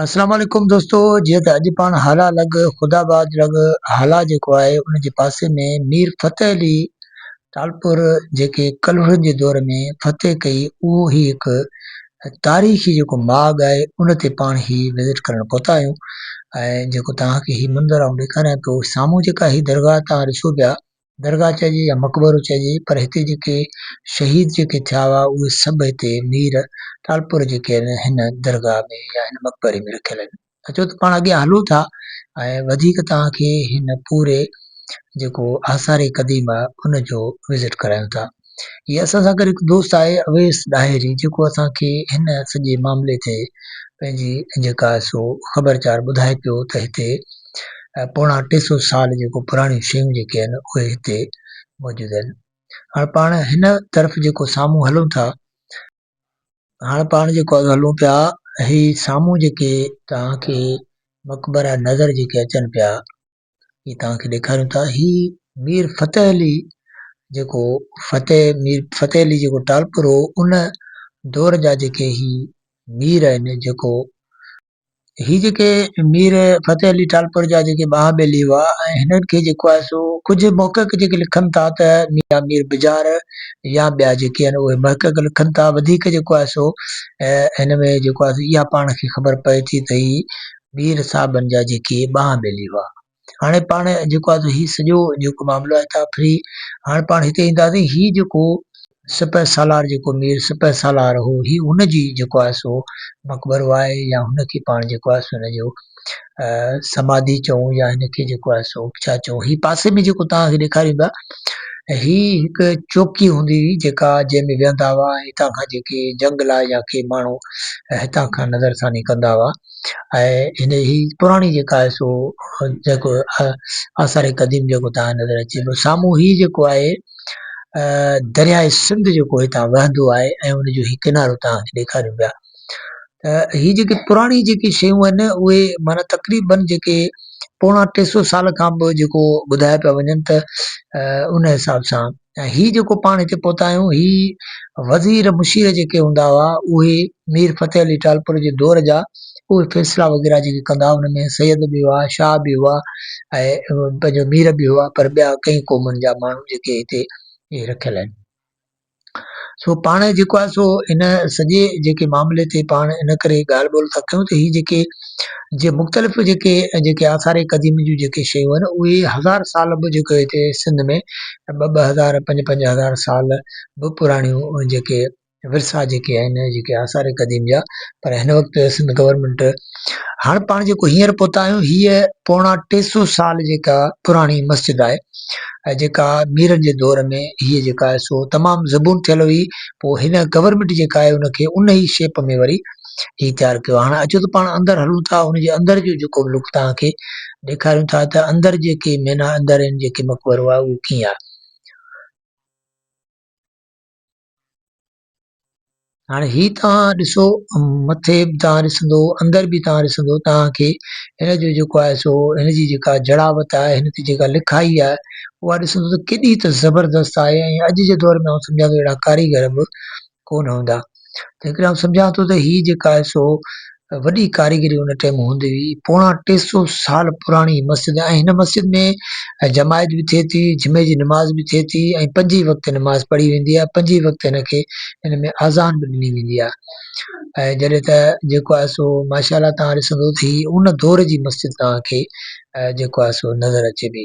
السلام عليڪم دوستو جيئن ته اڄ پاڻ هالا لڳ خدا آباد لڳ هالا جيڪو آهي ان جي پاسي ۾ مير فتح علي ٽالپور جيڪي ڪلهوڙن جي دور ۾ فتح ڪئي اهو هي هڪ تاريخي جيڪو ماڳ آهي ان تي پاڻ هي وزٽ ڪرڻ پهتا آهيون ۽ جيڪو توهان کي هي منظر آئون ڏيکاريان پيو سامهون جيڪا هي درگاهه توهان ڏسو پيا درگاهه چئجي يا مقبرو چئجي پر هتي جيڪي شهيد جيڪي ٿيا هئا اهي سڀ هتي مير ٽالپور جيڪي آهن هن درگاهه ۾ يا هن مقبري ۾ رکيل آهن اچو ته پاڻ اڳيان هلون ٿا ۽ وڌيڪ توهان کي هن پوري جيڪو آثار قديمه ان جو وزٽ ڪرايون ٿا. هي اسان سان گڏ هڪ دوست آهي اويس ڏاهري جيڪو اسان کي هن سڄي معاملي تي پنهنجي جيڪا سو خبر چار ٻڌائي پيو ته هتي پوڻا ٽي سو سال جيڪو پراڻيون شيون جيڪي آهن اهي هتي موجود آهن هاڻ پاڻ هن طرف جيڪو سامهون هلون ٿا هاڻ پاڻ جيڪو هلون پيا هي سامهون جيڪي توهان کي مقبرا نظر جيڪي اچن پيا هي توهان کي ڏيکاريون ٿا هي مير فتح علي جيڪو فتح مير فتح علي جيڪو ٽالپر هو ان دور جا جيڪي هي مير آهن جيڪو هي جيڪي مير فتح علي ٽالپر جا جيڪي ٻانهن ٻيلي هئا ۽ هنن کي جيڪو آهي سو ڪجهه محقق جيڪي لکن ٿا ته ميان مير بجار يا ٻيا جيڪي آهن اهي محقق لکن ٿا وڌيڪ جيڪو آهي سو هن ۾ جيڪو آهي اها پاڻ کي خبر پئي ٿي ته هي مير صاحبن جا جيڪي ٻانهن ٻيلي هئا. هاڻي پاڻ جيڪو آهي هي سڄو جيڪو معاملو آهي تان فري هاڻ پاڻ هتي اينداسي هي جيڪو سپه سالار جيڪو مير سپه سالار هو هي هن جي جيڪو آهي سو مقبرو آهي يا هن کي پاڻ جيڪو آهي سو هن جو سماڌي چئون يا هن کي جيڪو آهي سو ڇا چئون هي پاسي ۾ جيڪو تان کي ڏيکاريون پيا هي هڪ چوڪي هوندي هئي جيڪا جنهن ۾ ويهندا هئا هتان کان جيڪي جنگ لاء يا ڪي ماڻهو هتان کان نظر ثاني ڪندا هئا ۽ هي پراڻي جيڪا آهي سو جيڪو آثار قديم جيڪو تان نظر اچي پيو سامهون هي جيڪو آهي درياء سنڌ جيڪو هتان وهندو آهي ۽ ان جو هي ڪنارو تان ڏيکاريون پيا ته هي جيڪي پراڻي جيڪي شيون آهن اهي معنيٰ تقريبن جيڪي پوڻا ٽي سو سال کان به جيڪو ٻڌايا پيا وڃن ته ان حساب سان ۽ هي جيڪو پاڻ هتي پهتا آهيون هي وزير مشير جيڪي هوندا هئا اهي مير فتح علي ٽالپر جي دور جا اهي فيصلا وغيره جيڪي ڪندا هئا ان ۾ سيد به هئا شاهه به هئا ۽ پنهنجو مير به هئا پر ٻيا ڪئين قومن جا ماڻهو جيڪي هتي اهي رکيل آهن سو پاڻ جيڪو آهي سو ان سڄي جيڪي معاملي تي پاڻ ان ڪري ڳالهه ٻولهه ٿا ڪيون ته هي جيڪي جي مختلف جيڪي جيڪي آثار قديمه جون جيڪي شيون آهن اهي هزار سال به جيڪو هتي سنڌ ۾ ٻه ٻه هزار پنج پنج هزار سال به پراڻيون جيڪي ورثا جيڪي آهن جيڪي آثار قديم جا پر هن وقت سنڌ گورنمنٽ هاڻ پاڻ جيڪو هينئر پهتا آهيون هيء پوڻا ٽي سو سال جيڪا پراڻي مسجد آهي ۽ جيڪا ميرن جي دور ۾ هيء جيڪا آهي سو تمام زبون ٿيل هئي پوء هن گورنمنٽ جيڪا آهي ان کي ان ئي شيپ ۾ وري هي تيار ڪيو هاڻ اچو ته پاڻ اندر هلون ٿا ان جي اندر جو جيڪو ملڪ توهان کي ڏيکاريون ٿا ته اندر جيڪي مينا اندر ان جيڪي مقبرو آهي اهو ڪيئن آهي هاڻ هي توهان ڏسو مٿي به توهان ڏسندو اندر به توهان ڏسندو توهان کي هن جو جيڪو آهي سو هن جي جيڪا جڙاوت آهي هن تي جيڪا لکائي آهي اها ڏسندو ته ڪيڏي ته زبردست آهي ۽ اڄ جي دور ۾ آئون سمجهان ٿو اهڙا ڪاريگر به ڪونه هوندا ته هڪڙي آئون سمجهان ٿو ته هي جيڪا آهي سو وڏي ڪاريگري ان ٽيم هوندي هئي پوڻا ٽي سو سال پراڻي مسجد ۽ هن مسجد ۾ جماعت به ٿئي ٿي جمعي جي نماز به ٿئي ٿي ۽ پنج ئي وقت نماز پڙهي ويندي آهي پنج ئي وقت هن کي هن ۾ آذان به ڏني ويندي آهي ۽ جڏهن ته جيڪو آهي سو ماشاء الله تان ڏسندو ته هي ان دور جي مسجد تان کي جيڪو آهي سو نظر اچي ٿي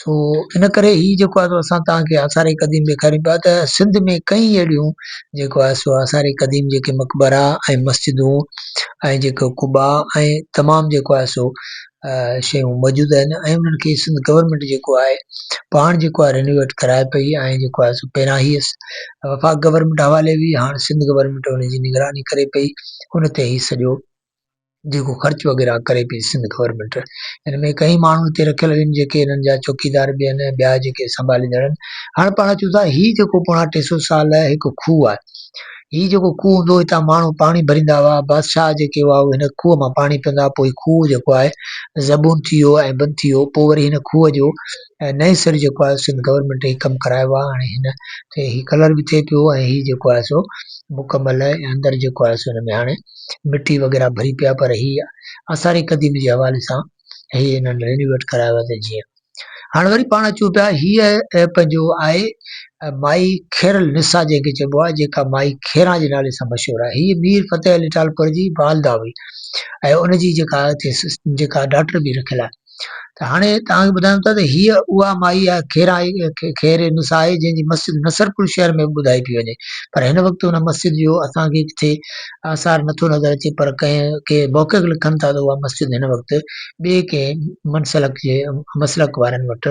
سو ان ڪري هي جيڪو آهي سو اسان توهان کي آثار قديم ڏيکاريون پيا ته سنڌ ۾ ڪئين اهڙيون جيڪو آهي سو آثار قديم جيڪي مقبرا ۽ مسجدون ۽ جيڪو قبا ۽ تمام جيڪو آهي سو شيون موجود آهن ۽ انهن کي سنڌ گورنمينٽ جيڪو آهي پاڻ جيڪو آهي رينوويٽ ڪرائي پئي ۽ جيڪو آهي سو پهريان هي وفاق گورنمينٽ حوالي هئي هاڻ سنڌ گورنمينٽ ان جي نگراني ڪري پئي ان تي هي سڄو جيڪو خرچ وغيره ڪري پئي سنڌ گورنمينٽ ان ۾ ڪئين ماڻهو اتي رکيل آهن جيڪي انهن جا چوڪيدار به آهن ۽ ٻيا جيڪي سنڀاليندڙ آهن هاڻ پاڻ چون ٿا هي جيڪو پوڻا ٽي سو سال هڪ کوهه آهي هي جيڪو کوهه هوندو هو هتان ماڻهو پاڻي ڀريندا هئا بادشاهه جيڪي هئا هن کوهه مان پاڻي پيئندا هئا پوء هي کوهه جيڪو آهي زبون ٿي ويو ۽ بند ٿي ويو پوء وري هن کوهه جو نئين سر جيڪو آهي سنڌ گورنمينٽ هي ڪم ڪرايو آهي هاڻي هن تي هي ڪلر به ٿئي پيو ۽ هي جيڪو آهي سو مڪمل اندر جيڪو آهي سو هن ۾ هاڻي مٽي وغيره ڀري پيا پر هي آثار قديم جي حوالي سان هي انهن رينوويٽ ڪرايو آهي ته جيئن هاڻ وري پاڻ اچون پيا هيء پنهنجو آهي مائي خير النساء جنهن کي چئبو آهي جيڪا مائي خيران جي نالي سان مشهور آهي هيء مير فتح علي ٽالپر جي والده هئي ۽ ان جي جيڪا جيڪا ڊاٽر به رکيل آهي ته هاڻي توهان کي ٻڌايون ٿا ته هيء اها مائي آهي، خيرائي، خير النساء، جنهن جي مسجد نصرپور شهر ۾ به ٻڌائي پئي وڃي، پر هن وقت ان مسجد جو اسان کي ڪٿي آثار نه ٿو نظر اچي، پر ڪنهن ڪي محقق لکن ٿا ته اها مسجد هن وقت ٻئي ڪنهن منسلڪ جي مسلڪ وارن وٽ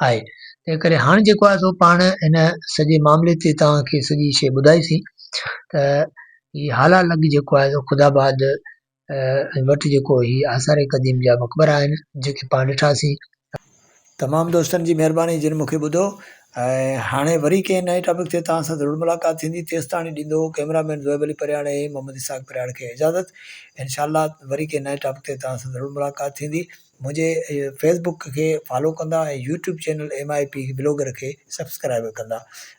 آهي. تنهن ڪري هاڻ جيڪو آهي سو پاڻ هن سڄي معاملي تي توهان کي سڄي شيء ٻڌائي سين ته هي هالا لڳ جيڪو آهي سو خداآباد وٽ جيڪو هي آثار قديم جا مقبرا آهن جيڪي پاڻ ڏٺاسين. تمام دوستن جي مهرباني جن مونکي ٻڌو ۽ هاڻي وري ڪنهن نئين ٽاپڪ تي توهان سان ضرور ملاقات ٿيندي تيستاڻي ڏيندو ڪئميرا مين زوئب علي پرياڙي ۽ محمد اسحاق پرياڙ کي اجازت انشاء الله وري ڪنهن نئين ٽاپڪ تي توهان سان ضرور ملاقات ٿيندي منهنجي فيس بڪ کي فالو ڪندا ۽ يوٽيوب چينل MIP بلاگر کي سبسڪرائيب ڪندا